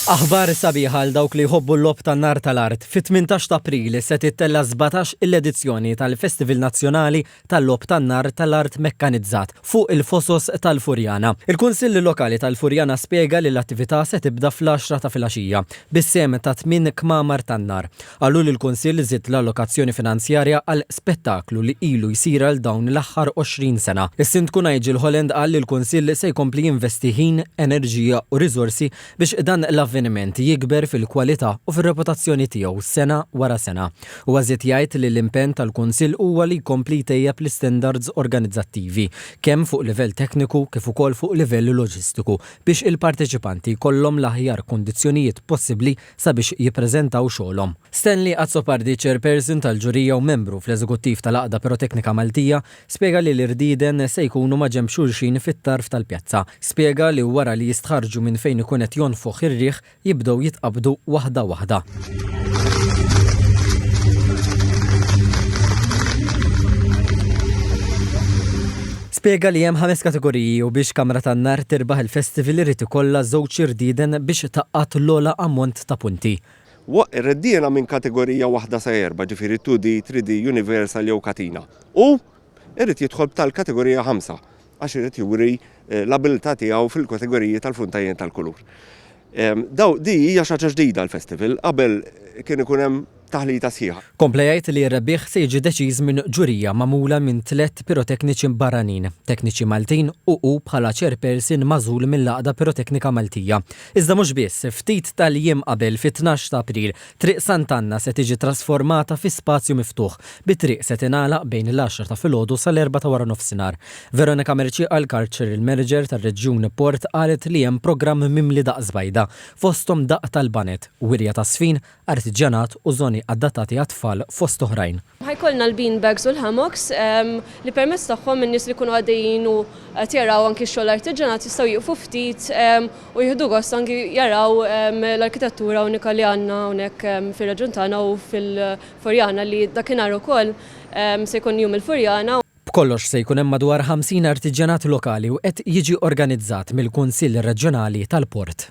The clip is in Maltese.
Aħbar sabiħa għal dawk li jħobbu l-logħob tan-nar tal-art, fit-18 ta' April se tittella' 17 il edizzjoni tal-Festival Nazzjonali tal-Logħob tan-Nar tal-Art Mekkanizzat fuq il-Fosos tal-Furjana. Il-Kunsill Lokali tal-Furjana spjega li l-attività se tibda fl-għaxra ta' filgħaxija bis-sehem ta' tmien kmamar tan-nar. Qalu li l-Kunsill żied l-allokazzjoni finanzjarja għal spettaklu li ilu jsir għal dawn l-aħħar 20 sena. Is-Sindku Nigel Holland qal li l-Kunsill se jkompli jinvesti ħin, enerġija u riżorsi biex dan l-avveniment jikber fil-kwalità u fir-reputazzjoni tiegħu sena wara sena. Huwa żied jgħid li l-impenn tal-Kunsill huwa li jkompli jtejjeb l-istandards organizzattivi, kemm fuq livell tekniku kif ukoll fuq livell loġistiku, biex il-parteċipanti jkollhom l-aħjar kundizzjonijiet possibbli sabiex jippreżentaw xogħolhom. Stanley Azzopardi, Chairperson tal-Ġurija u Membru fl-Eżekuttiv tal-Għaqda Piroteknika Maltija, spjega li l-irdieden se jkunu ma' ġenb xulxin fit-tarf tal-pjazza. Spjega li wara li jistħarrġu minn fejn ikun qed jonfoħ ir-riħ jibdew jitqabbdu waħda waħda. Spjega li hemm ħames kategoriji u biex Kamra tan-Nar tirbaħ il-festival irid ikollha żewġ irdieden biex tgħaqqad l-ogħla ammont ta' punti. Waqq ir-reddiena minn kategorija waħda sa erba', ġifieri 2D, 3D, Universal jew Katina. U irid jidħol b'tal-kategorija ħamsa għax irid juri l-abilità tiegħu fil-kategoriji tal-funtajn tal-kulur. Di hija xi ħaġa ġdida l-festival, qabel kien ikun hemm taħlita sħiħa. Kompla jgħid li r-rebbieħ se jiġi deċiż minn ġurija magħmula minn tliet pirotekniċi barranin, tekniċi Maltin u hu bħala chairperson magħżul mill-Għaqda Piroteknika Maltija. Iżda mhux biss, ftit tal-jiem qabel, fit-tnax ta' April, Triq Sant'Anna se tiġi trasformata fi spazju miftuħ, bi triq se tingħalaq bejn l-għaxra ta' filgħodu sal-erbgħa ta' waranofsinhar. Veronica Mercieqa l-Culture il-Manager tar-Reġjun Port qalet li hemm programm mimli daqq żbajda, fosthom daqq tal-baned, wirja ta' żfin, artiġjanat u żoni adattati għat-tfal fost oħrajn. Ħa jkollna l-bean bags u l-hammocks li permezz tagħhom in-nies li jkunu għaddejjin u qed jaraw anki x-xogħol artiġanat jistgħu jieqfu ftit u jieħdu gost anki jaraw l-arkitettura unika li għandna hawnhekk fir-reġjun tagħna u fil-Furjana li dakinhar ukoll se jkun Jum il-Furjana. B'kollox se jkun hemm madwar 50 artiġanat lokali u qed jiġi organizzat mill-Kunsill Reġjonali tal-Port.